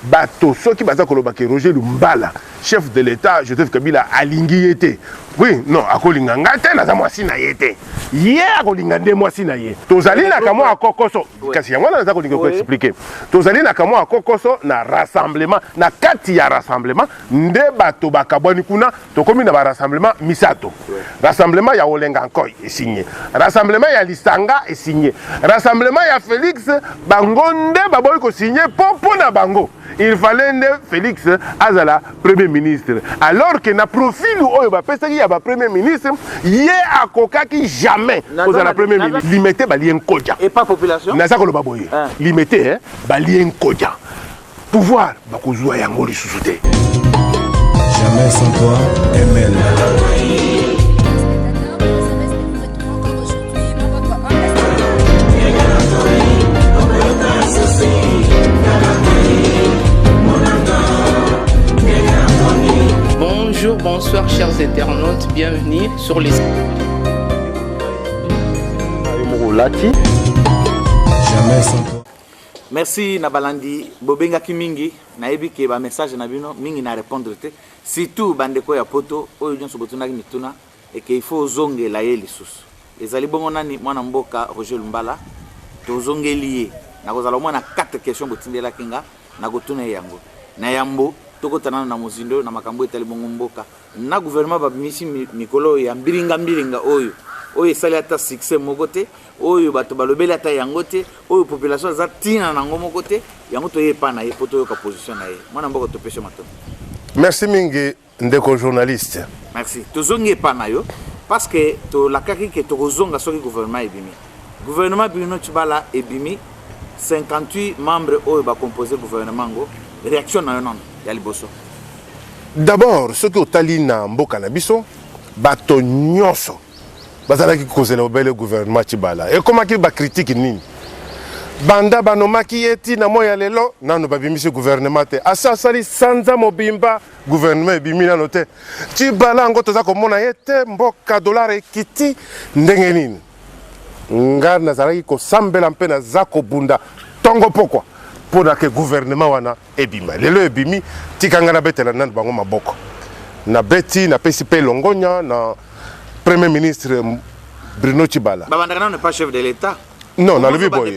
Bato soki baza koloba ke Roger Lumbala chef de l'etat Joseph Kabila alingi ye te oui non akolinga nga te naza mwasi na ye te ye akolinga nde mwasi na ye tozali na kamwa kokoso kasi yango wana naza kolinga koexplike tozali na kamwa kokoso na rassemblement na kati ya rassemblement nde bato bakabwani kuna tokomi na barassemblement misato rassemblement ya olenga nkoi esinye rassemblement ya lisanga esinye rassemblement ya félix bango nde baboyi kosinye mpo mpo na bango il fallait nde félix azala premier ministre alors que na profil oyo bapesaki ya bapremier ministre ye akokaki jamais kozala premier ministre limete balie nkoja naza koloba boye limete balie nkoja pouvoir bakozwa yango lisusu te jamais sans toi ml Bonjour, bonsoir chers internautes, bienvenue sur les... Jamais sans toi. Merci na balandi bobengaki mingi nayebi ke ba message na bino mingi na répondre te surtout bandeko ya poto oyo nyonso botunaki mituna eke il faut ozongela ye lisusu ezali bongo nani mwana mboka Roger Lumbala tozongeli ye nakozala omwana 4 question botindelaki nga nakotuna ye yango na yambo tokota nano na mozindo na makambo etali bongo mboka na gouvernement babimisi mikolo oyo ya mbilinga mbilinga oyo oyo esali ata succès moko te oyo bato balobeli ata yango te oyo population aza ntina na yango moko te yango toye epa na ye mpo toyoka position na ye mwana mboka topesi matondo merci mingi ndeko journaliste merci tozongi epa na yo parce que tolakaki ke tokozonga soki gouvernement ebimi Gouvernement Bruno Tshibala ebimi 58 membres oyo ba composer gouvernement ngo reaction na yo nano ya liboso. D'abord soki otali na mboka na biso bato nyonso bazalaki kozela obele gouvernement Tshibala ekomaki ba critique nini? banda banomaki ye ti na moi ya lelo nano babimisi guvernema te asi asali sanza mobimba guvernema ebimi nano te tibala yango toza komona ye te mboka dolare ekiti ndenge nini nga nazalaki kosambela mpe naza kobunda ntongo mpokwa mpo na ke guvernema wana ebima lelo ebimi tika ngai nabetela nani bango maboko nabeti napesi mpe longonya na premier ministre bruno cibala babandaka nano pas chef de l'état non nalobi boye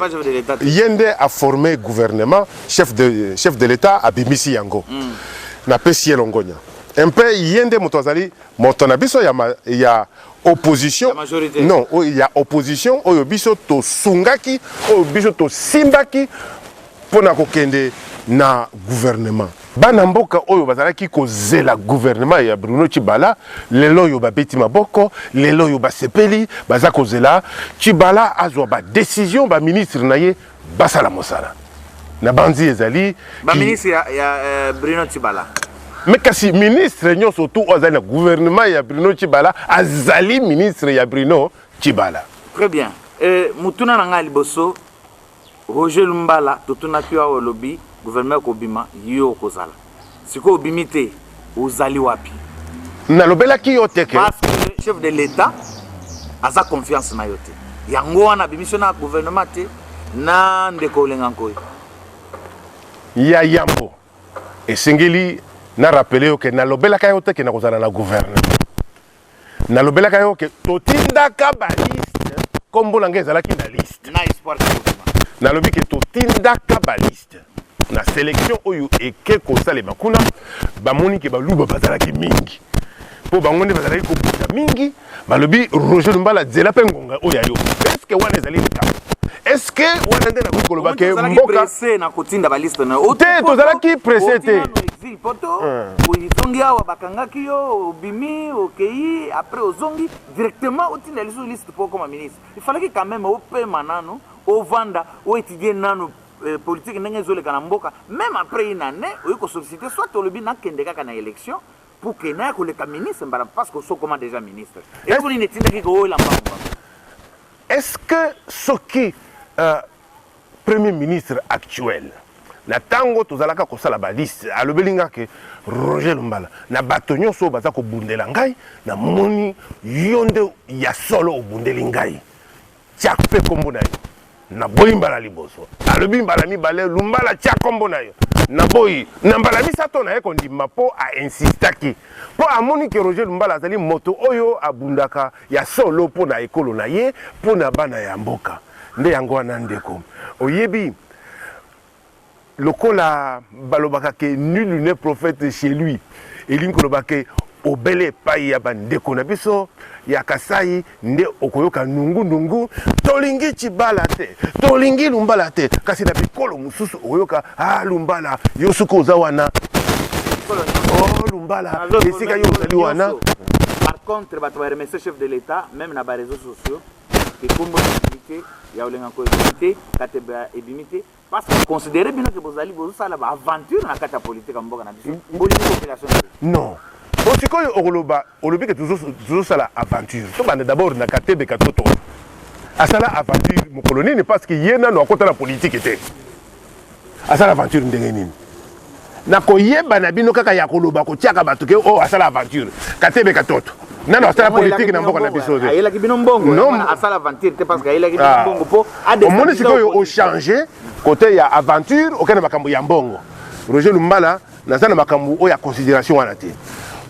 ye nde aforme gouvernement chef de, chef de l'état abimisi yango mm. napesi ye longonya mpe ye nde moto azali Moto na biso ya, ma, ya opposition ya non oyo ya opposition oyo biso tosungaki oyo biso tosimbaki mpo na kokende na gouvernement bana mboka oyo bazalaki kozela gouvernement ya Bruno Tshibala lelo oyo babeti maboko lelo oyo basepeli baza kozela Tshibala azwa ba decision ba ministre na ye basala mosala na banzi ezali baministre ya, ya uh, bruno tibala me kasi ministre nyonso tu oyo azali na gouvernement ya bruno tibala azali ministre ya bruno tibala très bien e, motuna na ngai ya liboso roger lumbala totunaki yo awa olobi gouvernement ekobima yo okozala Sikoyo obimi te, ozali wapi? Nalobelaki yo te que Parce que chef de l'Etat aza confiance na yo te. Yango wana abimisi yo na gouvernement te na ndeko Olenga Nkoy. ya yambo esengeli na rappeler yo que nalobelaka yo te que nakozala na gouvernement. nalobelaka yo ke totindaka baliste nkombo na ngai ezalaki na liste nalobi ke totindaka baliste na selection oyo eke kosalema kuna bamoni ke baluba bazalaki mingi mpo bango nde bazalaki kobuta mingi balobi roger lumbala zela mpe ngonga oyo ya yo eske wana ezali likambo eske wana nde nakoki koloba ke mboka te tozalaki presse te poto ozongi awa bakangaki yo obimi okei après ozongi directement otinda lisusu liste mpo okoma ministre ifalaki quand même opema nanu ovanda oetudie nanu euh, politique ndenge ezoleka na mboka même après une année oyi kosollicite soit olobi nakende kaka na élection pour que naya koleka ministre mbala parce que osokoma déjà ministre eloko nini etindaki kooyela mbango est ce que soki euh, Premier ministre actuel na tango tozalaka kosala ba liste alobeli nga ke Roger Lumbala na bato nyonso baza kobundela ngai na moni yo nde ya solo obundeli ngai tia pe kombo na yo na boyi mbala liboso alobi mbala mibale Lumbala tia kombo na yo na boyi na mbala misato na ye kondima po a insistaki po amoni ke Roger Lumbala azali moto oyo abundaka ya solo mpo na ekolo na ye, mpo na bana ya mboka. Nde yango wana ndeko, oyebi lokola balobaka ke nul ne prophète chez lui, elingi koloba ke obele epai ya bandeko na biso ya Kasai nde okoyoka nungu nungu, tolingi Tshibala te, tolingi Lumbala te, kasi na bikolo mosusu okoyoka ah lumbala yo suka oza wana oh lumbala esika yo ozali wana par contre bato ba remercie chef de l'état même na ba réseaux sociaux ekombo ebimi te ya olenganko ebimi te kateba ebimi te parce que considere bino ke bozali bozosala ba aventure na kati ya politique ya mboka na biso bolingi population non o sikoyo okoloba olobi ke tozosala aventure tobanda d'abord na katebe katoto asala aventure mokolo nini parce que ye nano akota na politike te asala aventure ndenge nini na koyeba na bino kaka ya koloba kotiaka bato ke oyo oh, asala aventure katebe katoto nano asala politike na mboka na biso te omoni sikoyo ochange kote ya aventure okende makambo ya mbongo roger lumbala naza na makambo oyo ya considération wana te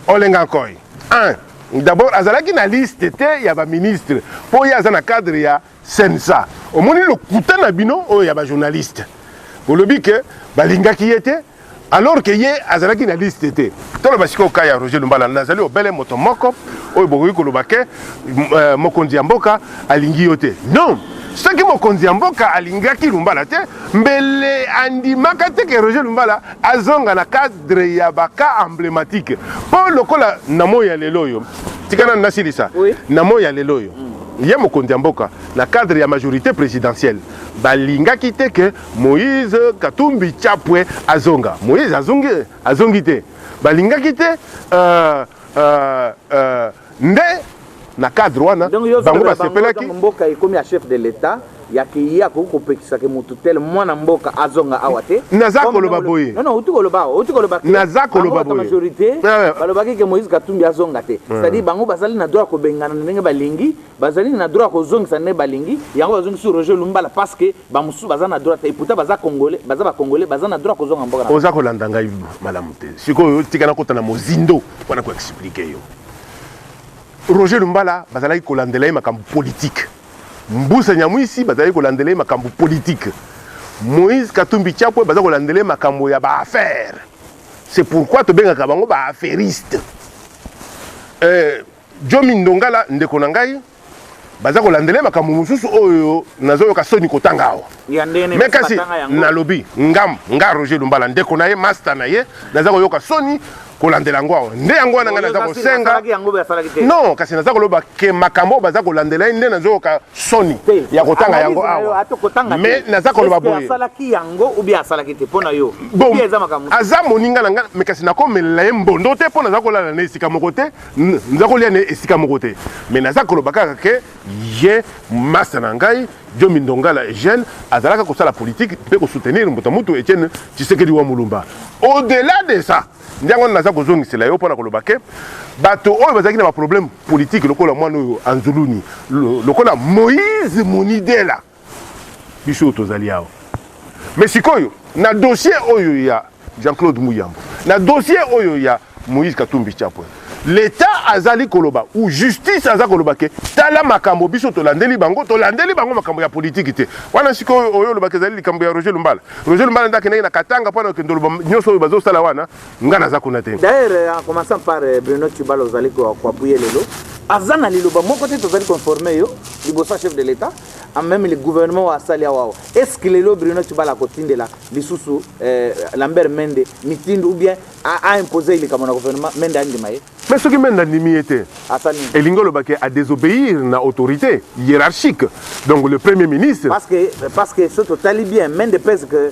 olenga nkoi 1 d'abord azalaki na liste te ya baministre mpo ye aza na cadre ya Cnsa omoni lokuta na bino oyo ya ba journaliste bolobi ke balingaki ye te alors ke ye azalaki na liste te toloba sikoyo ka ya Roger Lumbala nazali obele moto moko oyo bokoki koloba ke euh, mokonzi ya mboka alingi yo te non soki mokonzi ya mboka alingaki Lumbala te mbele andimaka te ke Roger Lumbala azonga na cadre ya ba cas emblématique mpo lokola na moi ya lelo oyo tika nanu nasilisa oui. na moi ya lelo oyo mm. Ye mokonzi ya mboka na cadre ya majorite presidentielle balingaki te que Moïse Katumbi Chapwe azonga. Moïse azongi? Azongi te. Balingaki te euh, euh, euh, nde na cadre wana bango basepelaki. Mboka ekomi ya chef de l'etat ya ke ye akoki kopekisa ke moto tel mwana mboka azonga awa te naza koloba boye non non utu koloba awa utu koloba naza koloba boye majorité balobaki ke Moïse Katumbi azonga te c'est à dire bango bazali na droit kobengana ndenge balingi bazali na droit kozongisa ndenge balingi yango bazongi sur Roger Lumbala parce que ba mususu baza na droit te et pourtant baza congolais baza ba congolais baza na droit kozonga mboka oza kolanda ngai malamu te sikoyo tika na kota na mozindo wana ko expliquer yo Roger Lumbala bazalaki kolandela ye makambo politique Mbusa Nyamwisi bazali kolandela ye makambo politique. Moïse Katumbi Chapwe baza kolandela ye makambo ya ba affaires. C'est pourquoi tobengaka bango ba affairistes. Euh, Jomi Ndongala ndeko na ngai baza kolandela ye makambo mosusu oyo nazoyoka soni kotanga awa. me kasi nalobi ngam nga roger lumbala ndeko na ye masta na ye naza koyoka soni kolandela yango awa nde yango wana ngai naza kosenga non kasi naza koloba ke makambo oyo baza kolandela ye nde nazoyoka soni ya kotanga yango awa me naza koloba boye aza moninga na ngai me kasi nakomelela ye mbondo te mpo naza kolala na esika moko te naza kolia na esika moko te me naza koloba kaka ke Ye masta na ngai Djomi Ndongala Eugène azalaka kosala politique mpe ko soutenir mbuta mutu Etienne Tshisekedi wa Mulumba. Au delà de ça, nde yango wana naza kozongisela yo mpo na koloba que bato oyo bazalaki na ba problèmes politiques lokola mwana oyo Anzuluni, lokola Moïse Monidela, biso tozali awa mais sikoyo na dossier oyo ya Jean-Claude Muyambo na dossier oyo ya Moïse Katumbi Chapwe l'État azali koloba ou justice aza koloba ke tala makambo biso tolandeli bango tolandeli bango makambo ya politiki te wana sikoyo oyo olobaka ezali likambo ya Roger Lumbala Roger Lumbala nde akendaki na Katanga mpo na kokende oloba nyonso oyo bazosala wana nga naza kuna te d'ailleurs euh, en commençant par euh, bruno tubala ozali koapuye lelo aza na liloba moko te tozali conforme yo liboso ya chef de l'état même le gouvernement oyo asali awa awa est ce que lelo bruno tubala akotindela lisusu euh, lambert mende mitindo ou bien aimpose ye likambo na gouvernement mende andima ye mais soki mende andimi ye te elingi oloba ke adesobéir na autorité hiérarchique donc le premier ministre parce que, parce que soki totali bien mende pese que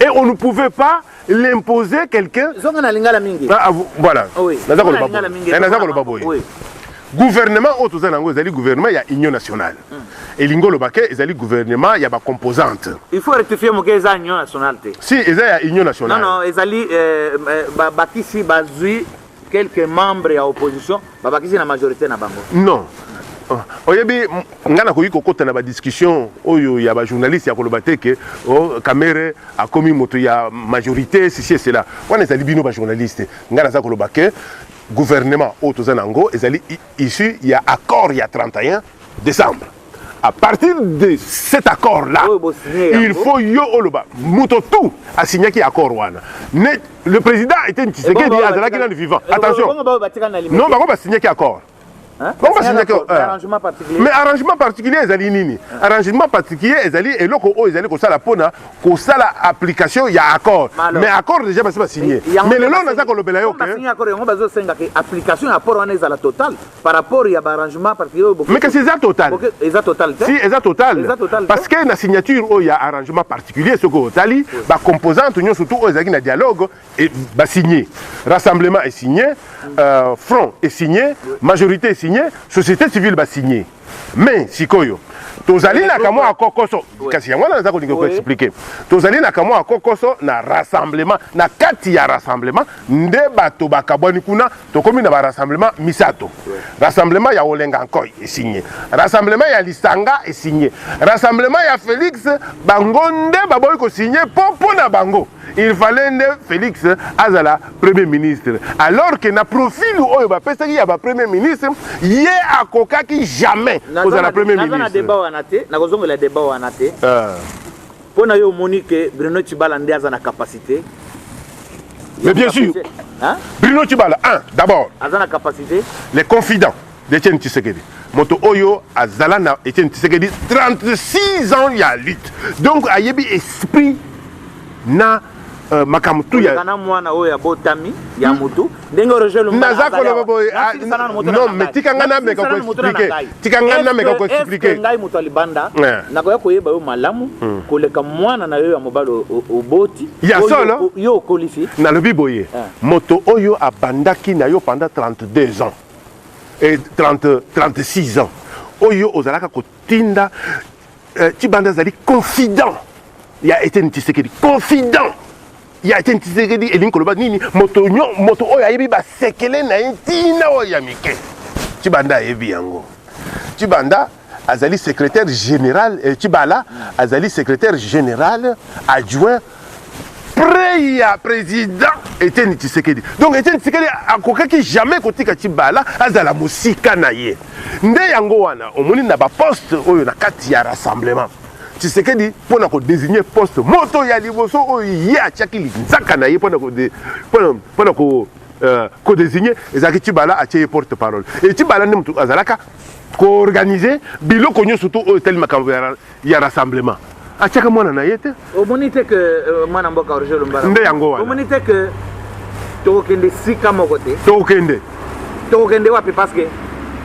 et on ne pouvait pas l'imposer quelqu'un zonga na lingala mingi ah, ah voilà ah oui. naza koloba boye eh, naza koloba boye oui. gouvernement oyo toza na yango ezali gouvernement ya union nationale mm. elingi oloba ke ezali gouvernement ya bacomposante il faut rectifier moke eza union nationale te si eza ya union nationale non, non, ezali euh, euh, bakisi bazwi quelques membres ya opposition babakisi na majorité na bango non oh, oyebi ngai nakoki kokota na badiscussion oyo ya bajournaliste ya koloba te ke oh, kamere akomi moto ya majorité sisi esela wana ezali bino bajournaliste ngai naza koloba ke gouvernement oyo toza na yango ezali issu ya accord ya 31 décembre à partir de cet accord là il faut yo oloba moto tout asignaki accord wana mais le président était tshisekedi azalaki nanu vivant attention non bango basignaki accord bango basignaki mais arrangement particulier ezali nini arrangement particulier ezali eloko oyo ezali kosala mpona kosala application ya accord mais accord déjà basi basigne mais lelo naza kolobela yo ke par rapport ya ba arrangement parce que oyo mais kasi eza total okay, eza total te si eza total eza total parce que na signature oyo ya arrangement particulier soki otali oui. ba composantes nyonso tout oyo ezalaki na dialogue et ba signé rassemblement est signé mm. euh, front est signé oui. majorité est signé société civile ba signé mais sikoyo tozali na kamwa ya kokoso kasi yango wana naza kolinga koexplike tozali na kamwa ya kokoso na rassemblement na kati ya rassemblement nde bato bakabwani kuna tokomi na barassemblement misato rassemblement ya olenga nkoi esinye rassemblement ya lisanga esinye rassemblement ya félix bango nde baboyi kosinye mpo mpo na bango il fallait nde félix azala premier ministre alors que na profil oyo bapesaki ya bapremier ministre ye akokaki jamais kozala premier ministre nakozongela deba wana te euh. Pona yo omoni que Bruno Chibala nde aza na capacité Mais bien sûr, hein? Bruno Chibala, un, d'abord, aza na capacité les confidents d'Etienne Tshisekedi. Moto Oyo azala na Etienne Tshisekedi 36 ans ya lutte. Donc ayebi esprit na Euh, makambo tu ya kana mwana oyo abotami ya hmm. mutu ndenge rejoint le naza koloba boye ah, non mais tika nga na meka ko expliquer tika nga na meka ko expliquer ngai mutu alibanda nakoya koyeba yo malamu hmm. koleka mwana na yo ya mobali oboti ya solo yo okolisi nalobi boye eh. moto oyo abandaki na yo pendant 32 ans et 30 36 ans oyo ozalaka ko Tinda euh, Chibanda azali confident ya Etienne Tshisekedi, confident ya Etienne Tshisekedi elingi koloba nini? Moto nyo moto oyo ayebi basekele na ye ntina oyo ya mike, Chibanda ayebi yango. Chibanda azali secrétaire général eh, Chibala azali secrétaire général adjoint près ya président Etienne Tshisekedi. Donc Etienne Tshisekedi akokaki jamais kotika Tshibala azala mosika na ye. Nde yango wana omoni na ba poste oyo na kati ya rassemblement. Tshisekedi mpo na kodesigner poste moto ya liboso oyo ye atiaki linzaka na ye mpo na kode mpo na ko euh, kodesigner ezalaki Tshibala atie ye porte parole. Et Tshibala nde moto azalaka koorganize biloko nyonso to oyo etali makambo ya ya rassemblement atiaka mwana na ye te omoni te ke euh, mwana mboka roger lombara nde yango wana omoni te ke tokokende sika moko te tokokende tokokende wapi parce que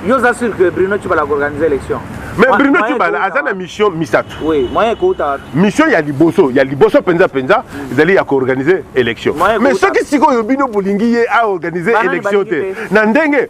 yo oza sur que bruno tshibala akoorganize élection mais bruno tshibala aza na mission misato oui, moyen ekouta mission ya liboso ya liboso mpenza mpenza mm. ezali ya koorganize élection mais soki sikoyo bino bolingi ye aorganize élection te na ndenge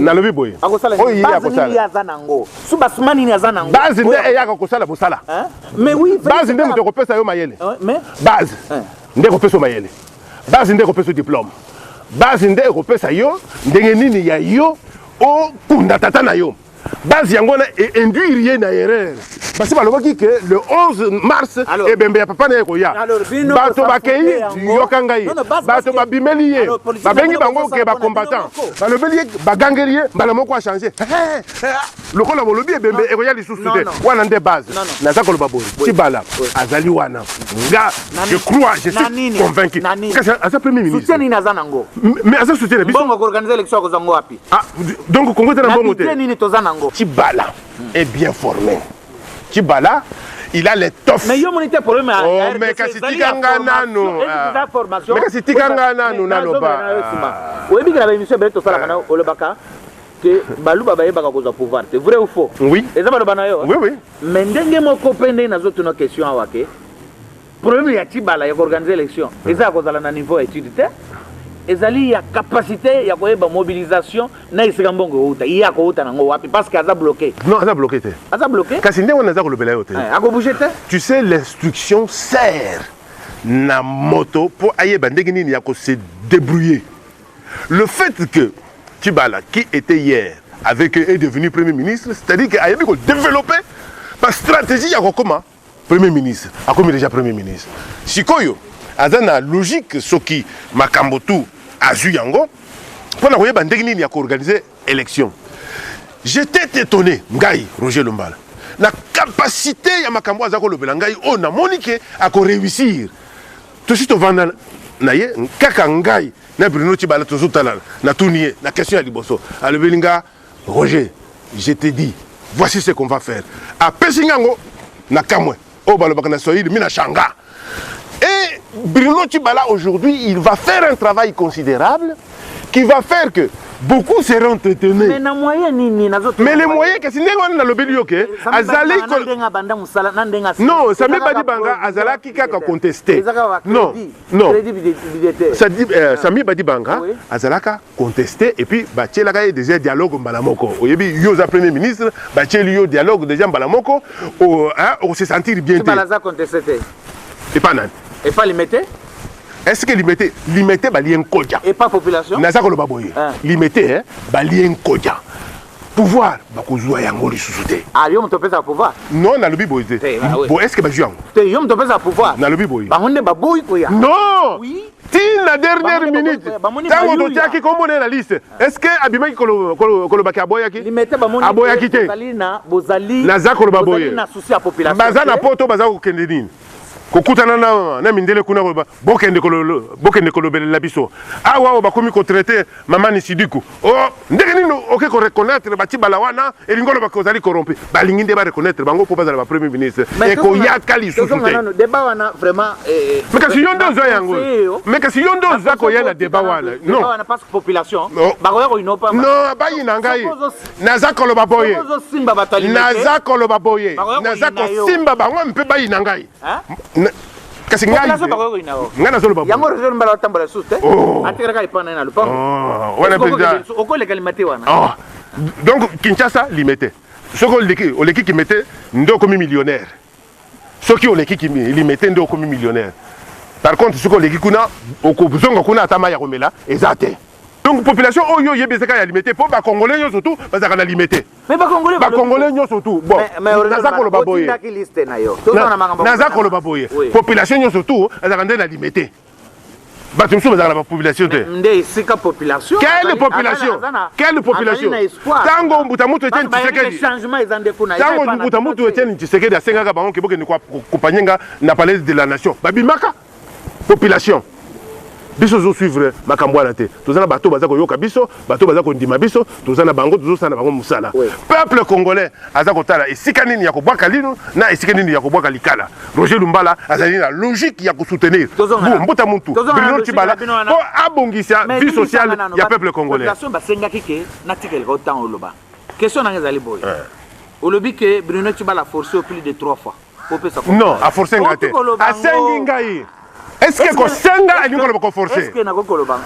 nalobi boye oyo ye akosalasuba suma nini aza nango base nde eyaka kosala mosala base nde moto ekopesa yo mayele base nde ekopesa yo mayele base nde ekopesa yo diplome base nde ekopesa yo ndenge nini ya yo okunda tata na yo base yango wana e induire ye na erreur basi balobaki ke le 11 mars ebembe ya papa na ye ekoya bato bakei yoka ngai bato babimeli ye babengi bango ke bacombattant balobeli ye bagangeli ye mbala moko achange lokola bolobi ebembe ekoya lisusu te wana nde base naza koloba boye tibala azali wana nga je crois je suis convaincu kasi aza premier ministre mais aza soutien na biso Ah, donc Congo eza na mbongo te. Nini toza nango? Chibala est bien formé. Chibala il a l'étoffe. Mais yo moni te problème ya oh, RDC. Mais kasi tika nga nanu. Eza formation. Mais kasi tika nga nanu naloba. Oyebi kala ba émission bele tosala kana ah. olobaka que baluba bayebaka kozwa pouvoir te vrai ou faux oui eza baloba na yo oui oui mais ndenge moko mpe nde nazotuna question awa ke Problème ya Tshibala ya koorganize election eza ya kozala na niveau ya etude te ezali ya capacité ya koyeba mobilisation na esika mbongo euta ye akouta nango wapi parce que aza bloqué non aza bloqué te aza bloqué kasi ndenge wana aza kolobela yo te eh, akobouge te tu sais l'instruction sert na moto mpo ayeba ndenge nini ya kose débrouiller le fait que Tibala qui était hier avec est devenu premier ministre c'est-à-dire que ayebi ko développer ba stratégie ya kokoma premier ministre akomi deja premier ministre sikoyo aza na logique soki makambo tu azwi yango mpo na koyeba ndenge nini ya koorganize élection j'étais étonné ngai roger lombala na capacité ya makambo aza kolobela ngai oyo namoni ke akoreusir tosi tovanda na ye kaka ngai na bruno tibala tozotalana natuni ye na question ya liboso alobeli nga Roger, je te dis, voici ce qu'on va faire. Apesi nga yango na kamwe. Oyo balobaka na Swahili, mimi na shanga. Et Bruno Tshibala aujourd'hui, il va faire un travail considérable qui va faire que beaucoup seront entretenus. Mais na moyen nini nazo Mais les moyens kasi ndenge wana nalobeli yo ke azali ko ndenga banda musala na ndenga Non, Sami Badi Banga azalaki kaka contester. Non, non. Ça dit euh, Sami Badi Banga azalaka contester et puis batielaka ye déjà dialogue mbala moko oyebi yo oza premier ministre batieli yo dialogue déjà mbala moko okose sentir bien te aza contester te epa nani epa limete est-ce que limete limete balie nkoja epa population naza koloba boye limete balie nkoja pouvoir bakozwa yango lisusu te ah yo moto opesaka pouvoir non nalobi boye te eh, ah bo estce bazwi yango te yo moto opesaka pouvoir nalobi boye bango nde baboyi koya non oui tina dernière minute ntango totyaki kombo na ye na liste est ce que abimaki kolobaki aboyaki aboyaki te naza koloba boye baza na poto baza kokende nini kokutana na, na mindele kuna koloba bokende, kolo, bokende kolobelela biso awa oyo bakomi kotraite mama nisidiku o oh, ndenge nini oke koreconnaitre batibala wana elingi oloba kozali corrompu balingi nde bareconnaitre bango mpo bazala bapremier ministre ekoyaka lisusu te eh, eh, kasi yo nde oza yango me kasi yo nde oza koya na debat wana non bayi na ngai naza koloba boye naza koloba boye naza kosimba bango mpe bayina ngai kasi ngai nazoloba yango rezo mbala otambola lisusu te oh. atikala kaka epai na ye na lopango oh, wana mpenza okoleka limete wana oh. donc kinshasa limete soki oleki kimete nde okomi millionnaire soki oleki kimi limete nde okomi millionnaire par contre soki oleki kuna okozonga kuna ata mai ya komela eza te donc population oyo oyebi ezaka ya limete mpo bacongolais nyonso tu bazalaka na limete bacongolais nyonso tu naza koloba boye naza koloba boye population nyonso tu azalaka nde na limete bato mosusu bazalaka na bapopulation te nde esika population quelle population quelle population ntango mbuta mutu etienne tshisekedi ntango mbuta mutu etienne tshisekedi asengaka bango ke bokende kopanye nga na palais de la nation babimaka population biso tozosuivre makambo wana te toza na bato baza koyoka biso bato baza kondima biso toza na bango tozosala na bango mosala peuple congolais aza kotala esika nini ya kobwaka lino na esika nini ya kobwaka likala roger lumbala azali na logique ya kosoutenir mbuta muntu bruno tibala mpo abongisa vie sociale ya peuple congolais basengaki ke natikeleka otango oloba question nanga ezali boye eh. olobi ke bruno tibala force au plus de trois fois non aforce nga te asengi ngai est ce que kosenga elingi koloba koforce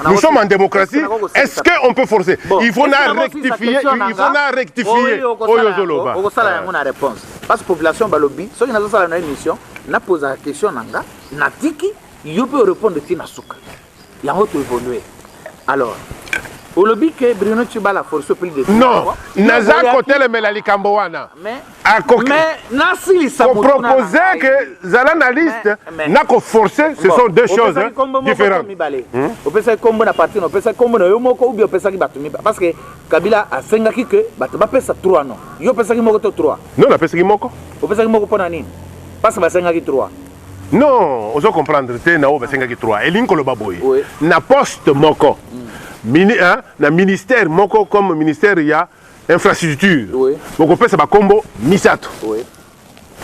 nous sommes en démocratie est ce que on peut forcer il faut na rectifier il faut na rectifier oyo ozoloba okosala yango na réponse parce que population balobi soki nazosala na émission napozaka question na nga natiki yo mpe orépondre ti na suka yango to evolue alors olobi ke bruno tshibala force plus de non naza kotelemela likambo wana akokopropose ke zala na liste na koforce ce sont deux choses différentes hmm? opesaki kombo na parti opesaki kombo na yo moko ubi opesaki bato mibale parce que kabila asengaki ke bato bapesa 3 non yo opesaki moko to 3 non napesaki moko opesaki moko mpo na nini parce que basengaki 3 non ozo comprendre te na oyo basengaki 3 elingi koloba boye Oui. na poste moko mini, hein, na ministère moko comme ministère ya infrastructure Oui. bokopesa bakombo misato Oui.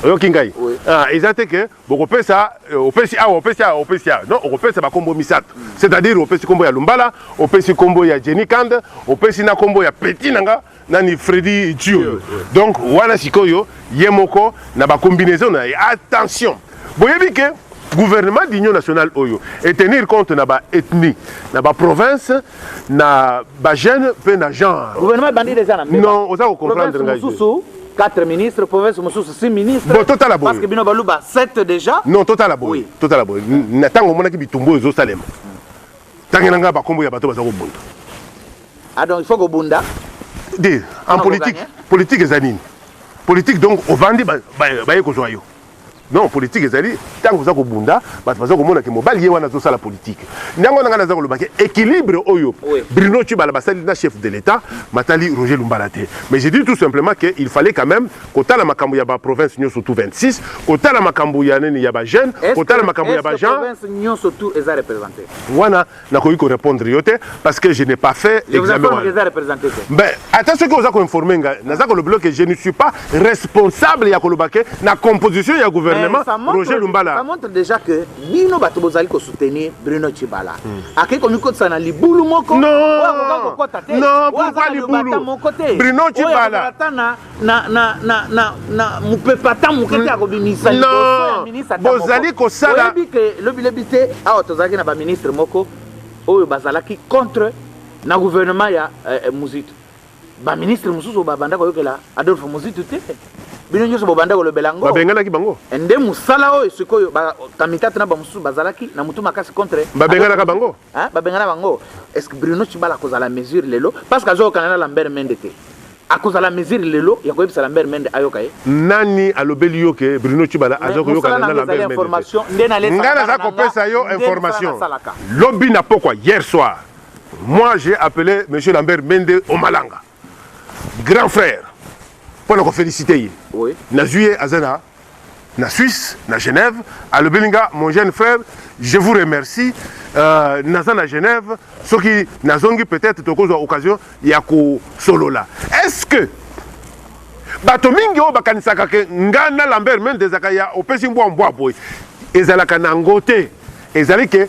oyoki ngai Oui. Ah, eza te ke bokopesa eh, opesi awa opesi awa opesi awa non okopesa bakombo misato c'est-à-dire opesi kombo ya lumbala opesi kombo ya jenny kand opesi na kombo ya peti na nga nani Freddy Chioyo donc wana sikoyo ye moko na ba combinaison na ye attention boyebi ke gouvernement d'union nationale oyo et tenir compte na ba ethnie na ba province na ba jeune pe na genre gouvernement bandi déjà na non oza ko comprendre ngai susu 4 ministres province mosusu 6 ministres bon totala boye parce que bino baluba 7 déjà non totala boye oui. totala boye na tango omonaki bitumbu ezo salema tangela ngai ba kombo ya bato baza kobunda Ah donc il faut kobunda. Nde en politique, politique eza nini? Politique donc ovandi ba ba ekozwa yo. Non, politique ezali tango oza kobunda, bato baza komona ke mobali ye wana azosala politique. Nyango na ngai naza koloba ke équilibre oyo Bruno Tshibala basali na chef de l'État matali Roger Lumbala te. Mais je dis tout simplement que il fallait quand même kotala makambo ya ba province nyoso tout 26, kotala makambo ya nini ya ba jeunes, kotala makambo ya ba gens. Province nyoso tout eza représentée. Wana nakoki ko répondre yo te parce que je n'ai pas fait examen wana ben ata soki oza ko informer ngai naza ko lobelo que je ne suis pas responsable ya koloba que na composition ya gouvernement Roger Lumbala ça montre déjà que bino bato bozali ko soutenir Bruno Tshibala hmm. akei ko mikotisa na libulu moko non non pourquoi libulu Bruno Tshibala na, na, na, na, na mopepe ata moke te akobimisa hmm. liboso ya ministre ata bozali kosala oyebi ke lobilobi te awa tozalaki na baministre moko oyo bazalaki contre na gouvernement ya eh, eh muzitu baministre mosusu babanda koyokela adolphe muzitu te bino nyonso bobanda kolobela yango babenganaki bango eh, nde mosala oyo sikoyo kamitatu na bamosusu bazalaki na motu makasi contre babenganaka bango babengana bango est ce que bruno cibala akozala mesure lelo parce que azokokana na lambert mende te Akozala mesure lelo ya koyebisa Lambert Mende ayoka ye? Nani alobeli yo ke Bruno Tshibala aza koyokana na Lambert Mende te? Nga naza kopesa yo information. Lobi na pokwa hier soir, moi j'ai appele monsieur Lambert Mende Omalanga, grand frère, pona ko feliciter ye. Nazui ye aza na na Suisse na Genève alobeli nga mon jeune frère je vous remercie euh, naza na Genève soki nazongi peut-être tokozwa occasion ya kosolola est-ce que bato mingi oyo bakanisaka ke nga na Lambert Mende ezalaka ya opesi mbwa mbwa boye ezalaka na yango te ezali ke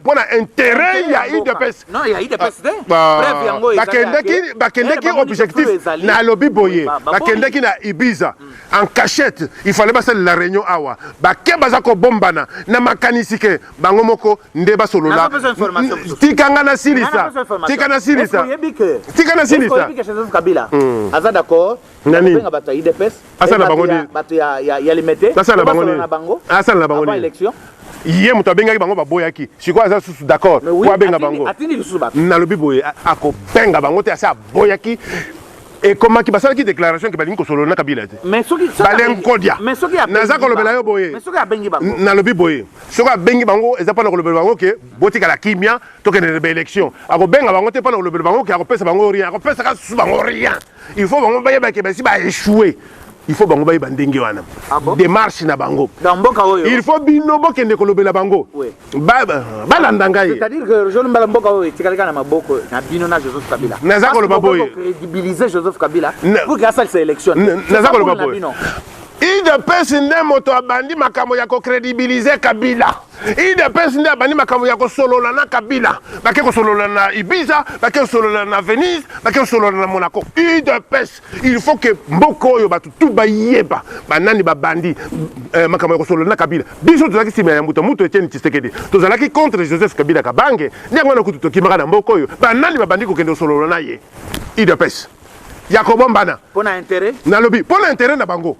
mpo na interet ya udps bakendeki objectif nalobi boye bakendeki na ibiza mm. en cachette il fallait basalela réunion awa bake baza kobombana na makanisi ke bango moko nde basolola tika nga nasilisa tika nasilisa tika nasilisa hmm. aza d'accord Nani? Benga bato ya UDPS. Asala na bango nini? Bato ya ya ya limete. Asala na bango nini? Asala na bango nini? Election. ye moto abengaki bango baboyaki sikoyo aza susu d'accord po abenga bango nalobi boye akobenga bango te asi aboyaki ekomaki basalaki déclaration ke balingi kosolola na kabila te balenkodia naza kolobela yo boye nalobi boye soki abengi bango eza mpona kolobela bango ke botikala kimia tokendele baélection akobenga bango te mpona kolobela bango ke akopesa bango rien akopesaka susu bango rien il faut bango bayeba ke basi ba échouer il faut bango bayeba ndenge wana ah bon? démarche na bango dans mboka oyo il faut bino bokende kolobela bango oui. balanda ngai c'est-à-dire que jeune mbala mboka oyo etikalika na maboko na bino na Joseph Kabila naza koloba boye crédibiliser Joseph Kabila pour que asalisa élection naza koloba boye idps nde moto abandi makambo ya kocrédibiliser Kabila udps nde abandi makambo ya kosolola na kabila bake kosolola na ibiza bake kosolola na venise bake kosolola na monaco udps il faut ke mboka oyo bato tu bayeba banani babandi eh, makambo ya kosolola na kabila biso tozalaki nsima ya mbuta mutu etieni tshisekedi tozalaki contre joseph kabila kabange nde yango wana kutu tokimaka na mboka oyo banani babandi kokende kosolola na ye udps ya kobombana mpo na interet nalobi mpo na interet na bango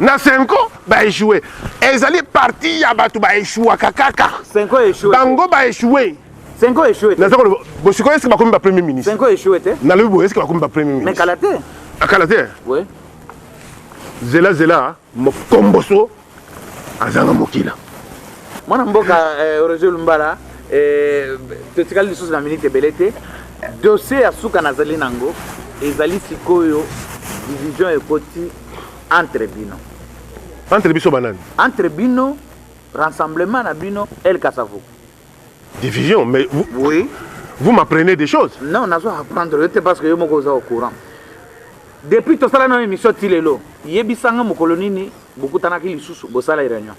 na senko baechoue ezali parti ya bato baechuaka kaka bango baechoue senko echoue naza koloba bosikoyo eske bakomi bapremier ministre senko echoue te nalobi boye eske bakomi bapremier ministre kala te akala te zela zela mokomboso azanga mokila mwana mboka eh, roger lumbala eh, totikali lisusu na minute ebele te dossier ya suka nazali nango ezali sikoyo division ekoti entre bino entre biso banani entre bino rassemblement na bino el kasavu division mais vous, oui. vous m'apprenez des choses non nazo apprendre yo te parce que yo moko oza au courant depuis tosala na émission ti lelo yebisanga mokolo nini bokutanaki lisusu bosala réunion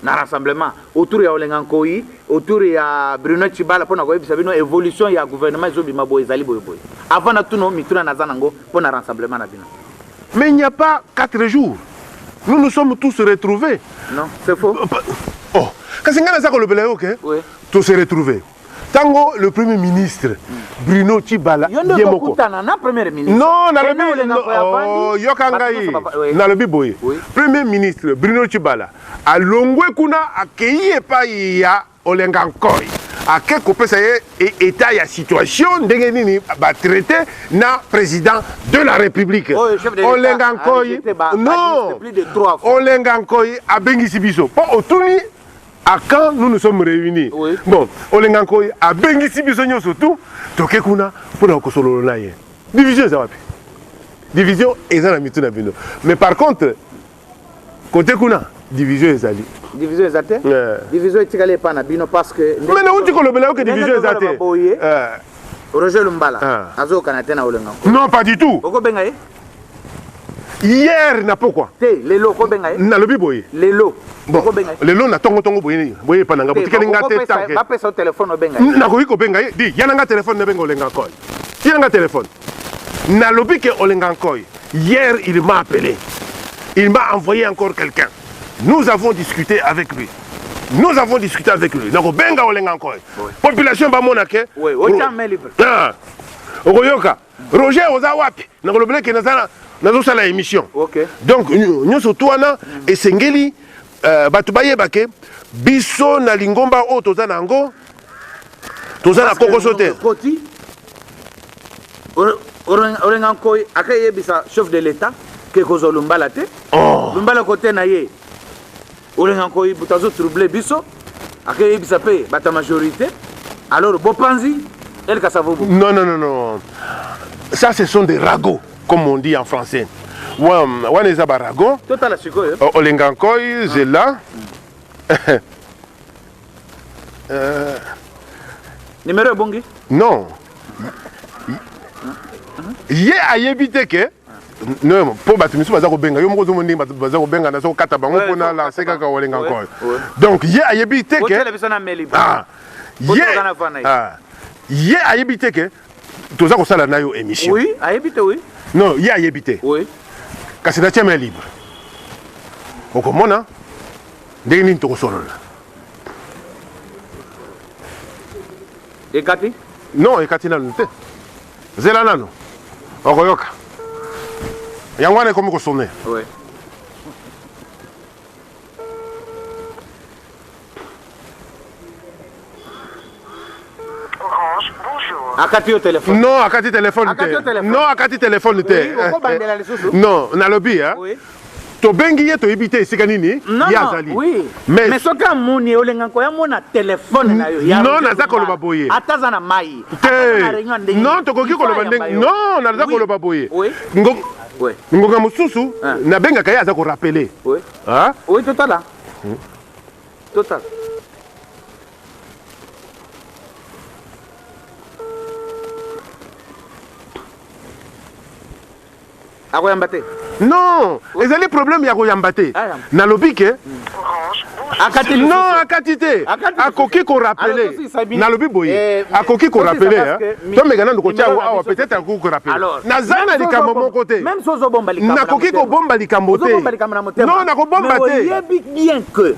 na rassemblement autour ya olenga nkoyi autour ya bruno chibala mpo na koyebisa bino évolution ya gouvernement ezobima boye ezali boyeboye avant na tuno mituna naza nango mpo na rassemblement na bino mais il n'y a pas 4 jours nous nous sommes tous retrouvés non c'est faux oh kasi ngai naza kolobela yo ke oui. to se retrouver tango le premier ministre bruno cibala ye moko non nalobi oh, yoka ngai nalobi boye premier ministre bruno cibala alongwe kuna akei epai ya olenga nkoi ake kopesa ye e, etat ya situation ndenge nini batraite na président de la république olenga nkoi non olenga nkoi abengisi biso mpo otuni à quand nous nous sommes réunis oui. bon olenga nkoi abengisi biso nyonso tu toke kuna mpo na kosololo na ye division eza wapi division eza na mitu na bino mais par contre kote kuna division ezali division eza te yeah. division etikali epai na bino parce que mais nauti kolobela yo ke division eza te eh. roger lumbala ah. azokana te na olenga non pas du tout okobenga ye hier na pokwa te lelo okobenga ye nalobi boye lelo bon lelo na tongo tongo boye boye epa na nga botikeli nga te tanke bapesa telefone obenga ye nakoki kobenga ye di yana nga telefone nabenga olenga nkoy yana nga telefone nalobi ke olenga nkoy hier il m'a appelé il m'a envoyé encore quelqu'un nous avons discuté avec lui nous avons discuté avec lui nakobenga olenga nkoy population bamona ke okoyoka Roger oza wapi na kolobela ke naza nazosala émission okay. donc nyonso tu wana mm. esengeli uh, bato bayeba ke biso na lingomba oyo toza na yango toza na kokoso te orenga nkoi akeyebisa chef de l'état ke kozwa lumbala te oh. lumbala kote na ye olenga nkoyi buta azo trouble biso akeyebisa mpe bata majorité alors bopanzi el kasavobo non non non non ça ce sont des ragots comme on dit en français wana eza barago totala sikoyo oh, olenga nkoyi zela euh, numero ebongi non ye ayebi te ke non mpo bato misusu baza kobenga yo moko ozomo ndenge bato baza kobenga naza kokata bango mpo na lanse kaka olenga nkolo donc ye ayebi te ke ah. ye ah. ye ayebi te ke toza kosala na yo émission oui, ayebi te oui. non ye ayebi te oui. kasi natia main libre okomona ndenge nini tokosolola ekati non ekati nanu te zela nano okoyoka yango wana ekomi kosone ouais. akati yo telefone non akati telefone te non akati telefone te non nalobi tobengi ye toyebi te esika nini ye azali mais soki amoni ye olenga koya mona telefone na yo non naza koloba boye ata aza na mai te non tokoki koloba ndenge non naza koloba boye ngonga mosusu ah. nabengaka ye aza korapele ah. oui totala hmm. totala akoyamba te non ezali problème ya koyamba te nalobi ke akati non akati te akoki korapele nalobi boye eh, akoki korapele tomeka nanu kotya yango awa peut-être akoki korapele naza na likambo moko te nakoki kobomba likambo te non nakobomba te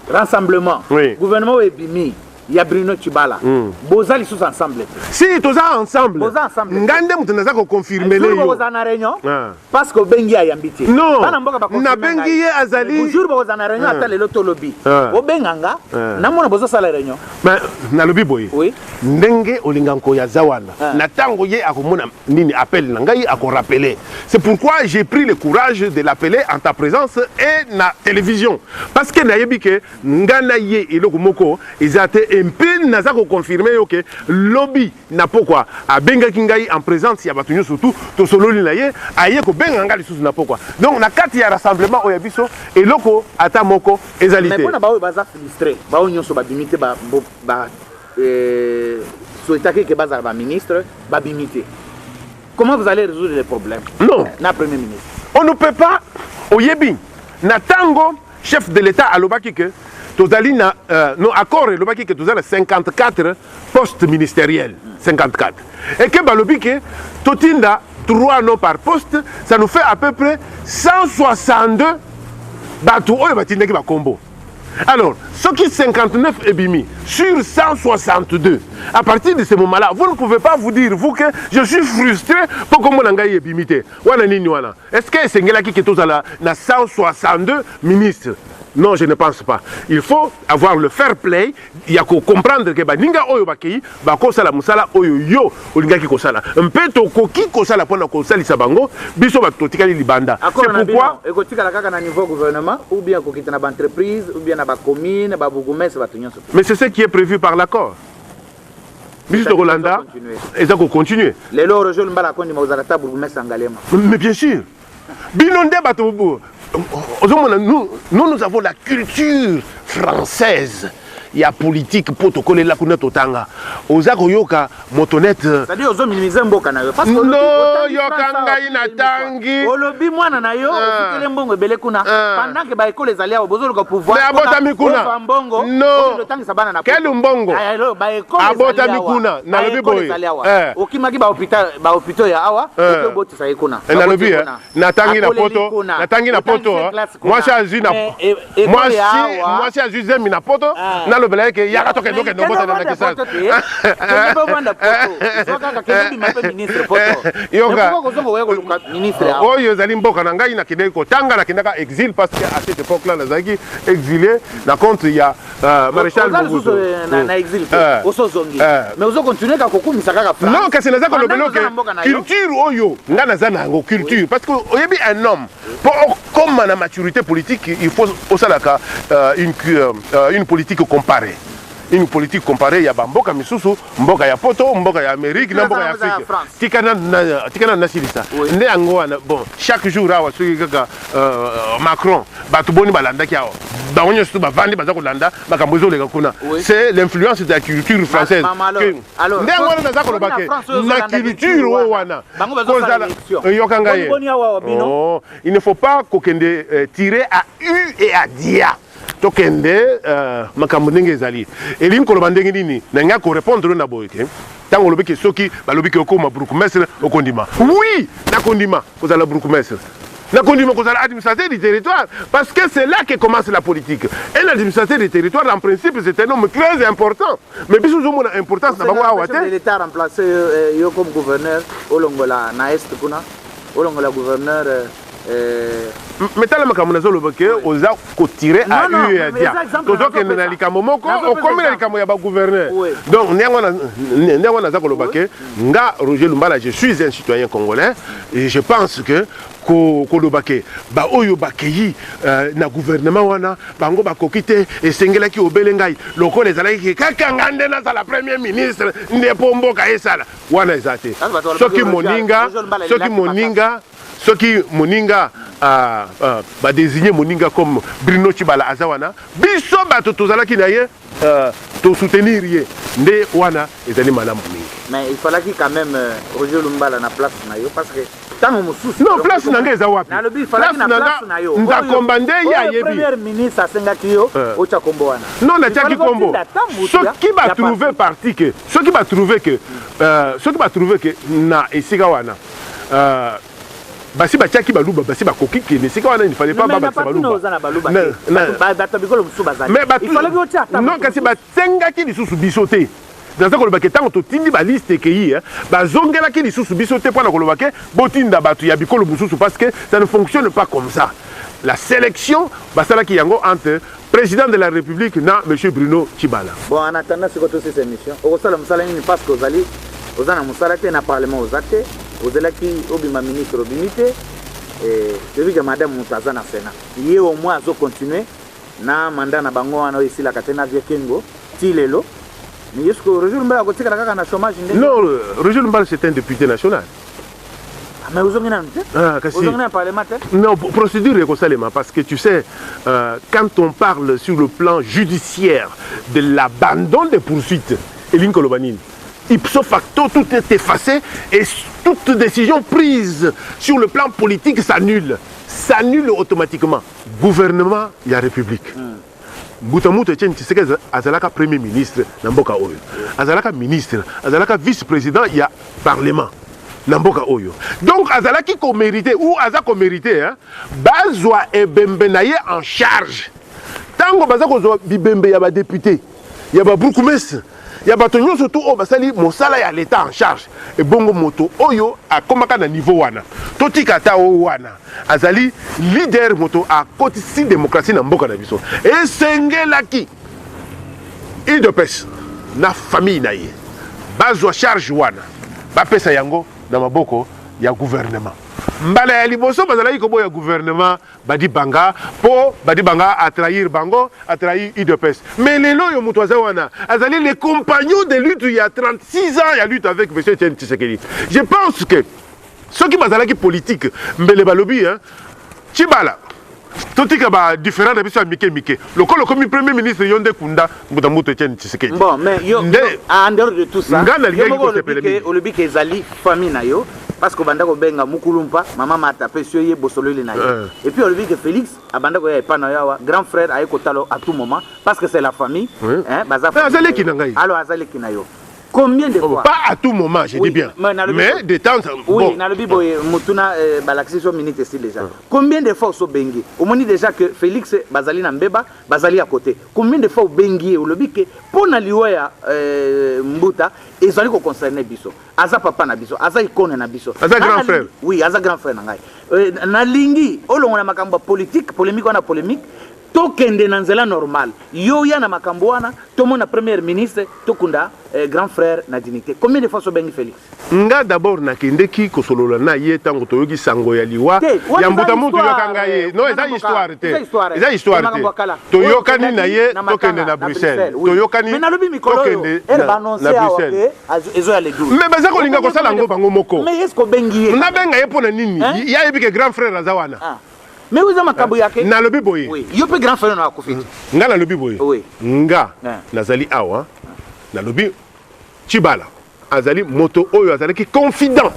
rassemblement gouvernement oyo ebimi ya Bruno Tshibala mm. boza lisusu ensemble te si toza ensemble boza ensemble nga nde moto naza ko confirmer le yo boza na réunion ah. parce que obengi ayambi te non bana mboka ba confirmer nabengi ye azali jour boza na réunion ah. ata lelo tolobi ah. obenga nga na mona bozo sala réunion mais nalobi boye oui ndenge olinga nko ya zawana na tango ye akomona nini appel na ngai ako rappeler c'est pourquoi j'ai pris le courage de l'appeler en ta présence et na télévision parce que nayebi que Nga na ye eloko moko eza te et mpe naza ko confirmer yo que lobi na pokwa abengaki ngai en presence ya batu nioso tout tosololi na ye aye kobenga nga lisusu na pokwa donc na kati ya rassemblement oyo ya biso eloko ata moko ezali te. Mais pona baoyo baza frustre baoyo nioso babimi te ba ba souhaitaki que bazala ba ministre babimi te comment vous allez resoudre le problème? Non na premier ministre on ne peut pas oyebi na tango Chef de l'Etat alobaki que tozali na euh, no accord elobaki que tozali na 54 postes ministériels 54 et que balobi que totinda 3 noms par poste ça nous fait à peu près 162 bato oyo batindaki bakombo alors soki 59 ebimi sur 162 à partir de ce moment là vous ne pouvez pas vous dire vous que je suis frustré mpo kombo na ngai ebimi te wana nini wana Est-ce que esengelaki ke tozala na 162 ministres non je ne pense pas il faut avoir le fair play ya kocomprendre ke baninga oyo bakei bakosala mosala oyo yo olingaki kosala mpe tokoki kosala mpo na kosalisa bango biso bato totikali libanda ekotikala kaka na niveau gouvernement ou bien kokita na baentreprise ou bien na bacommune babourgoumestre bato nyonso mais c'est ce qui est prévu par l'accord biso tokolanda eza kocontinue lelo orejol mbala akondima kozala ta bourgmestre ya ngalema mais bien sûr bino nde bato ozomona nous nous avons la culture française ya politique mpo tokolela kuna totanga oza koyoka motonete euh, yoka ngai na tanga ngi olobi mwana na yo ah. ofutele mbongo ebele kuna ah. pendant que ba ekolo ezali awa bozoluka pouvoir abotami kuna mbongo otangisa bana na kelu mbongo ah, abotami kuna nalobi boye eh. okimaki ba hopitaux ya awa eh. obotisa ye kuna eh, nalobi natangi na poto natangi na poto mwasi azwi na mwasi mwasi azwi zemi na poto ah. nalobela ye ke yaka tokende okende obotana na kisasa oyo ezali mboka na ngai nakendeki kotanga nakendaka exil parce que à cette époque là nazalaki exilé na compte ya euh, maréchal euh, hmm. euh. non kasi naza kolobela oke culture oyo ngai naza na yango culture parce que oyebi un homme Pour comme la maturité politique, il faut aussi euh, une, euh, euh, une politique comparée. Une politique comparée, il y a Mboka Misusu, Mboka ya Poto, Mboka ya Amérique, na Mboka ya Afrique. Tikana na tikana na silisa. Nde yango bon, chaque jour awa soki kaka euh, Macron, bato boni balandaki awa. Bango nyonso bavandi baza kolanda makambo ezoleka kuna. C'est l'influence de la culture française. Ma, ma, ma, nde yango wana naza koloba ke na culture oyo wana kozala yoka ngai oh, il ne faut pas kokende euh, tire à u et à dia tokende euh, makambo ndenge ezali elingi koloba ndenge nini na ngai korepondre na boye te ntango olobi ke soki balobi ke okoma bourgmestre okondima oui nakondima kozala bourgmestre nakondima kozala administrateur du territoire parce que c'est là que commence la politique un administrateur du territoire en principe c'est un homme très important mais biso tozomona importance na bango awa te l'etat remplace euh, yo comme gouverneur olongola na est kuna olongola gouverneur euh, euh, mais tala makambo nazoloba ke oza kotire a u ya dia tozokende na likambo moko okomi na likambo ya bagouverneur donc ndenge wana naza koloba ke nga roger lumbala je suis un citoyen congolais et je pense que koloba ke baoyo bakeyi uh, na gouvernement wana bango bakoki te esengelaki obele ngai lokola ezalaki ke kaka nga nde nazala premier ministre nde mpo mboka esala wana eza te soki moninga soki moninga soki moninga uh, uh, badesigne moninga comme bruno chibala aza wana biso bato tozalaki na ye Euh, to soutenir ye nde wana ezali malamu mingi. Mais il fallaki quand même euh, Roger Lumbala na place na yo parce que tango mosusu non place na ngai eza wapi nalobi falaki na place na yo ndakomba nde ye ayebi premier ministre asengaki yo euh. otya kombo wana non natyaki kombo soki batrouve parti ke soki batrouve ke soki batrouve ke na esika wana basi batiaki baluba basi bakoki kende esika wana il fallait pas babakisa balubanon kasi basengaki lisusu biso te naza koloba ke ntango totindi baliste ekei eh, bazongelaki lisusu biso te mpo na koloba ke botinda bato ya bikolo mosusu parce que ça ne fonctionne pas comme ça la sélection basalaki yango entre President de la Republique na Monsieur Bruno Tshibala. Bon, en attendant sikoyo tosisa emission, okosala mosala nini parce que ozali oza na mosala te na parlement oza te ozelaki obima ministre obimi te eh, toyebi ke madame moto aza na senat ye au moins azocontinue na manda na bango wana oyo esilaka te na vie kengo ti lelo mais yesuko roger lumbala akotikala kaka na chômage nde non roger lumbala c'est un député national mais ozongi nanu te ah, ozongi na parlement te non procédure ekosalema parce que tu sais euh, quand on parle sur le plan judiciaire de l'abandon des poursuites elingi koloba nini ipso facto tout est effacé et toute décision prise sur le plan politique s'annule s'annule automatiquement gouvernement ya république mm. Mbuta Muntu Etienne Tshisekedi azalaka premier ministre na mboka oyo, azalaka ministre, azalaka vice president ya parlement na mboka oyo, donc azalaki ko merite ou aza ko merite hein, bazwa ebembe na ye en charge tango baza kozwa bibembe ya ba depute ya ba bourgmestre ya bato nyonso tu oyo basali mosala ya leta en charge ebongo moto oyo akomaka na niveau wana totika ata o wana azali leader moto akotisi demokrasi na mboka na biso esengelaki udps na famille na ye bazwa charge wana bapesa yango na maboko ya gouvernement mbala ya liboso bazalaki koboya gouvernement Badi banga po badi banga a trahir bango a trahir udps mais lelo yo mutu aza wana azali le compagnon de lutte ya 36 ans ya lutte avec monsieur Etienne Tshisekedi je pense que soki bazalaki politique mbele balobi hein Tshibala totika ba différent na biso ya mike mike lokola okomi premier ministre yo nde kunda mbuta mbutu etienne tshisekedi bon mais yo, nde, yo en dehors de tout ça nga nalingaki kosepela mingi olobi ke ezali famille na yo parce que obanda kobenga mukulumpa mama mata apesi yo ye bosololi na ye eh. et puis olobi ke félix abanda koya epai na yo awa grand frère aye kotala à tout moment parce que c'est la famille hein, baza eh, aza leki na ngai alors aza leki na yo combien de oh, fois pas à tout moment je dis bien mais de temps en oui nalobi boye mutuna euh, balakisi so minute esi déjà ah. combien de fois osobengi omoni déjà que félix bazali na mbeba bazali à côté combien de fois obengi ye olobi ke mpo na liwa ya euh, mbuta ezali koconcerne biso aza papa na biso aza ikone na biso aza grand frère oui aza grand frère na ngai euh, nalingi olongola makambo ya politique polemique wana polemique tokende na nzela normal yo ya na makambo wana tomona première ministre tokunda eh, grand frère na dignité combien de fois sobengi félix nga d'abord nakendeki kosolola na ye ntango toyoki sango ya liwa ya mbuta mutu yoka ngai ye no eza histoire te eza histoire te toyokani na ye tokende na bruxelles toyokani tokende na bruxelles ezo ya le 12 mais baza kolinga kosala yango bango moko mais est-ce obengi ye nabenga ye mpo na nini ye ayebi ke grand frère aza wana ah. mais oza makambo yake nalobi boye yo mpe grand frère na akufi te nga nalobi boye nga nazali awa nalobi chibala azali moto oyo azalaki confident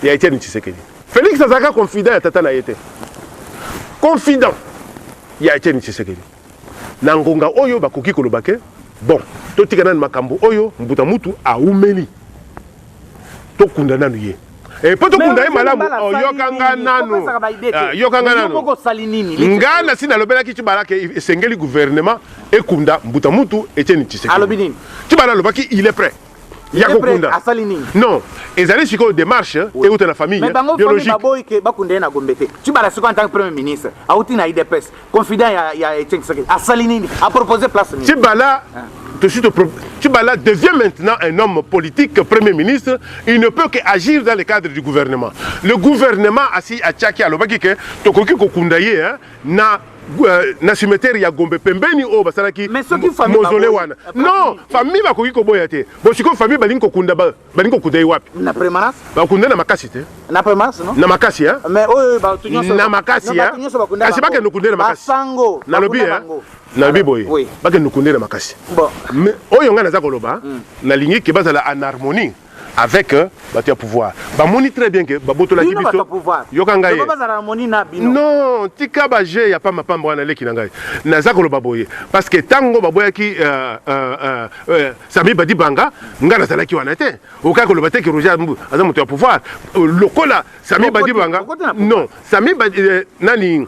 ya etienne tshisekedi félix azalaka confident ya tata na ye te confident ya etienne tshisekedi Na ngonga oyo bakoki koloba ke bon totika nanu makambo oyo mbuta mutu awumeli tokunda nanu ye Eh, po tokunda ye malamu oh, yoka nga nanu ah, yoka nga nanu nga nasi nalobelaki tibala ke esengeli gouvernement ekunda mbuta mutu etieni tshisekedi tibala alobaki il est prêt ya kokunda asali nini non ezali sikoyo démarche euta na famille mais bango famille baboyi ke bakunda ye na gombe te tu bala sikoyo en tant que premier ministre auti na idps confident ya ya Etienne Tshisekedi asali nini a proposer place nini tu bala ah. tout de suite Tibala devient maintenant un homme politique, Premier ministre, il ne peut qu'agir dans le cadre du gouvernement. Le gouvernement, assis à Tchaki, à l'Obaki, que Tokoki Kokundaye, hein, na na cimetière ya Gombe pembeni oyo basalaki mausolée wana. Non, famille bakoki koboya te. Bo siko famille balingi kokunda balingi kokunda ye wapi? Na permanence. Bakunda na makasi te. Na permanence non? Na makasi hein. Mais oyo ba to nyonso na makasi hein. Kasi bakende kokunda na makasi. Basango. Na lobi hein. Na lobi boye. Bakende kokunda na makasi. Bon. Mais oyo nga naza koloba, hmm. nalingi ke bazala en harmonie. avec euh, bato ya pouvoir bamoni très bien ke babotolaki Bino bato biso ya pouvoir. yoka ngai Loba bazala na moni na bino. non tika baje ya pambapamba wana leki na ngai naza koloba boye parce que ntango baboyaki euh, euh, euh, euh, sami badibanga ngai nazalaki wana te okaki koloba te ke roger Ambu aza moto ya pouvoir Euh, lokola sami Okoti- badibanga okoti na pouvoir. non sami Badi- eh, nani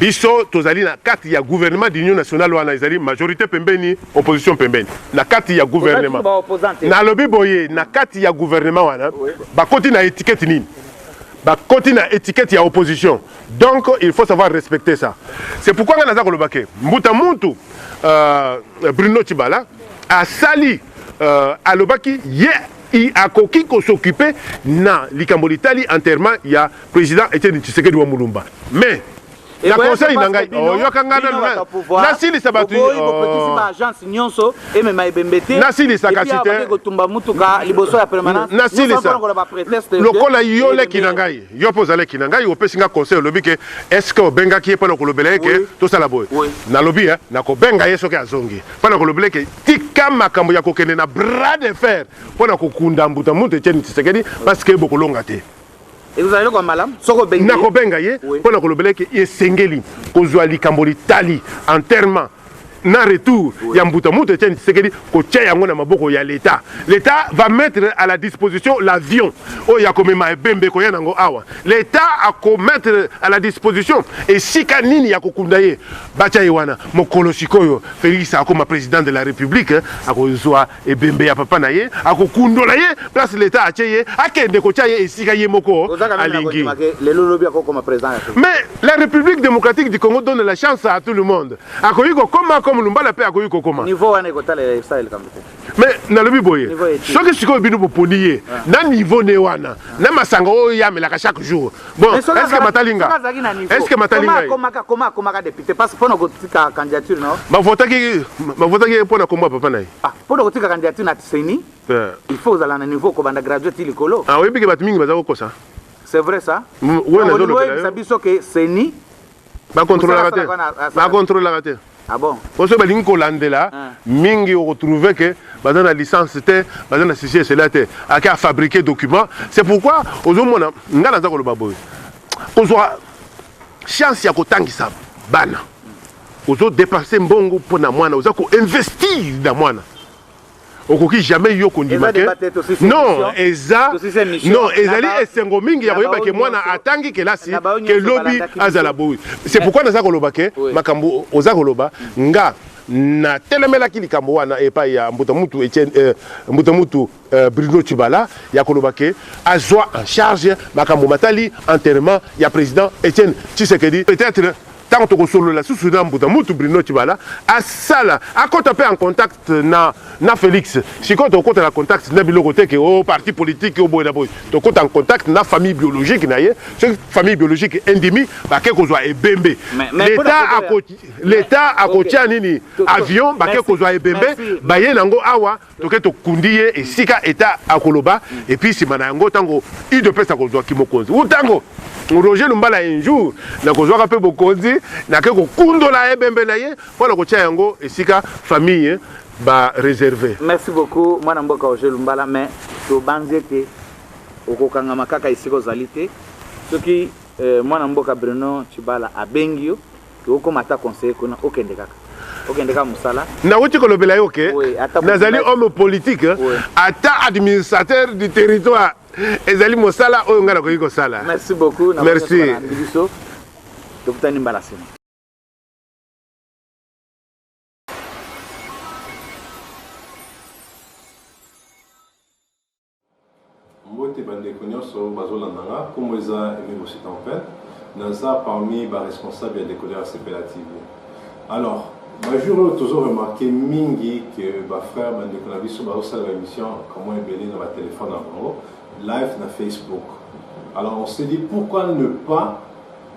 Biso tozali na kati ya gouvernement d'union nationale wana ezali majorite pembeni opposition pembeni na kati ya gouvernement. Nalobi boye na kati ya gouvernement wana bakoti na etiquette nini? bakoti na etiquette ya opposition donc il faut savoir respecter ça c'est pourquoi nga naza koloba ke mbuta muntu euh, bruno chibala asali euh, alobaki ye yeah, akoki kosokipe na likambo litali enterrement ya President Etienne Tshisekedi wa Mulumba. Mais na conseil na ngai oyoka ngai nasilisa bato nasilisa kasi te nasilisa lokola yo leki na ngai yo mpe oza leki na ngai opesi ngai conseil olobi ke estce obengaki ye mpo na kolobela ye ke tosala boye nalobi eh, nakobenga ye soki azongi mpo na kolobela ke tika makambo ya kokende na bras de fer mpo na kokunda mbuta mutu etieni tisekedi parce ke bokolonga te ekozala eloko ya malamu soki obengi nakobenga ye mpo na kolobela eke esengeli kozwa likambo litali enterrement na retour oui. ya mbuta moto etiani tisekedi kotya yango na maboko ya leta leta va mettre à la disposition l'avion oyo ya komema ebembe koya nango awa leta akomettre à la disposition esika nini ya kokunda ye batya ye wana mokolo sikoyo felix akoma président de la république akozwa ebembe ya papa na ye akokundola ye place leta atie ye akende kotya ye esika ye moko alingi mais la république démocratique du congo donne la chance à tout le monde akoki kokoma comme lumbala mpe akoki kokoma mais nalobi boye soki sikoyo bino boponi ye ah. na niveau ne wana na masanga oyo yamelaka chaque jour Bon, est-ce que batali nga Est-ce que batali nga Komaka koma komaka député parce que pona kotika candidature non Ba votaki ba votaki pona komba papa naye. Ah, pona kotika candidature na Tseni. Yeah. Il faut ozala na niveau ko banda graduate ti likolo. Ah, oyebi ke batu mingi baza kokosa. C'est vrai ça Oui, na zolo. Oyebi biso ke Tseni ba contrôlaka te. Ba contrôlaka te. Ah bon? Mpo soki balingi kolandela mingi okotrouve ke baza na licence te baza na ceci et cela te ake afabrique document c'est pourquoi ozomona ngai naza koloba boye kozwa chance ya kotangisa bana ozodepense mbongo mpo na mwana oza koinvestir na mwana okoki jamais yo kondima ke non eza non ezali esengo mingi ya koyeba ke mwana atangi kelasi ke lobi azala boyi c'est pourquoi naza koloba ke makambo oza koloba nga natelemelaki likambo wana epai ya mbuta mutu Etienne euh, mbuta mutu euh, Bruno Chibala ya koloba ke azwa en charge makambo matali enterrement ya président Etienne Tshisekedi peut-être Tango toko solola susu na mbuta mutu Bruno Tshibala asala akota pe en contact na na Felix sikoyo toko kota na contact na biloko te ke o oh, parti politique o oh, boye na boye toko kota en contact na famille biologique na ye soki famille biologique endimi bake kozwa ebembe l'etat ako l'etat akotia nini avion bake kozwa ebembe baye nango awa Toke tokundi ye esika eta akoloba et puis sima na yango tango udps akozwa kimokonzi ou tango Roger Lumbala un jour nakozwaka mpe bokonzi nake kokundola ebembe na ye mpo na kotia yango esika famille ba réservé. Merci beaucoup mwana mboka Roger Lumbala mais tobanzi ete okokangama kaka esika ozali te soki euh, mwana mboka Bruno Chibala abengi yo okoma ata conseiller kuna okende kaka okende kaka mosala nawuti kolobela yo ke nazali homme politique ata administrateur du territoire ezali mosala oyo ngai nakoki kosala merci beaucoup merci biso tokutani mbala sima Mbote ba ndeko nionso oyo bazo landa nga, kombo eza Aime Bossy Tempin, naza parmi ba responsable ya Decoder ya Sepela TV. Alors, ba jours oyo tozo remarquer mingi que ba frères ba ndeko na biso bazo sala ba emission ka mwa ebele na ba telephone na bango, live na Facebook. Alors on s'est dit pourquoi ne pas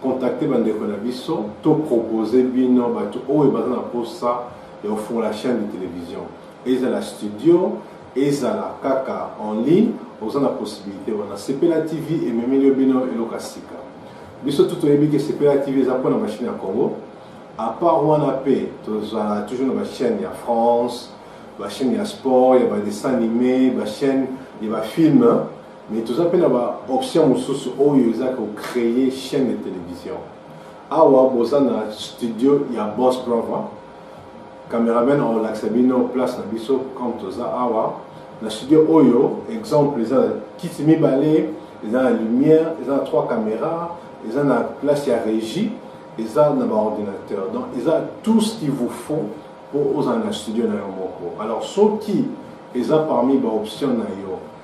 contacter ba ndeko na biso to proposer bino batu oyo baza na posa ya kofungola chaîne de télévision ezala studio Ezala kaka en ligne oza na possibilite wana. Sepela TV ememeli yo bino eloko ya sika. Biso tout toyebi ke Sepela TV eza pona ba chaine ya Congo. A part wana pe tozala toujours na ba chaine ya France, ba chaine ya sport, ya ba dessins animés, ba chaine ya ba films. Mais toza pe na ba options mosusu oyo eza ko creer chaine de television. Awa boza na studio ya Boss Brother. Cameraman akolakisa bino place na biso comme toza awa na studio oyo exemple eza na kiti mibale eza na lumière eza na trois caméra eza na place ya régie eza na baordinateur donc eza tout ce qui vous faut mpo ozala na studio na yo moko alors soki eza parmi baoption na yo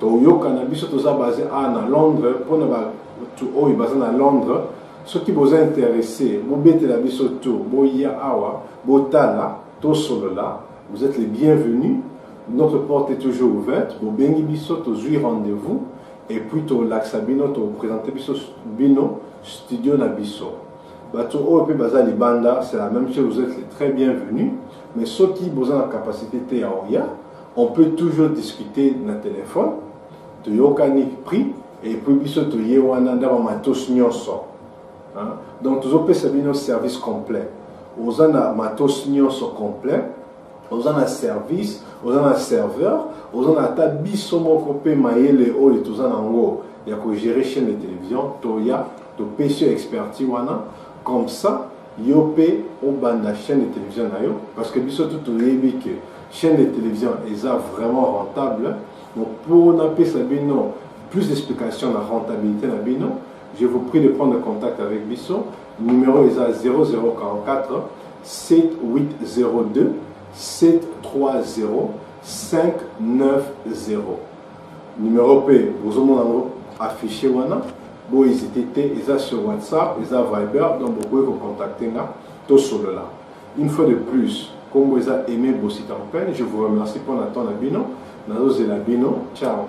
toyokana biso toza base a na londres mpo na bato oyo baza na londres soki boza interesse bobetela biso to boya awa botala tosolola vous êtes les bienvenus notre porte est toujours ouverte bobengi biso tozwi rendez-vous et puis tolakisa bino topresente biso bino studio na biso bato oyo mpe baza libanda c'est la même chose vous êtes les très bienvenus mais soki boza na capacité te ya oya On peut toujours discuter na telephone toyokani prix et puis biso toye wana nda ba matos nyonso hein? donc tozopesa bino service complet oza na matos nyonso complet oza na service oza na serveur oza na ata biso moko mpe mayele oyo toza na yango ya kogere chaîne de télévision toya topesi yo experti wana comme ça Yo pe obanda chaine de television na yo parce que biso tout toyebi que chaine de television eza vraiment rentable donc po na pesa bino plus d'explication na rentabilite na bino je vous prie de prendre contact avec biso numero eza 0044 7802 730 590. Numero pe bozo mona ngo affiche wana bo hesite te eza sur WhatsApp eza viber donc bokoki ko contacter nga to solola une fois de plus kombo eza Aime Bosita Mpene je vous remercie mpo na temps na bino nazo zela bino ciao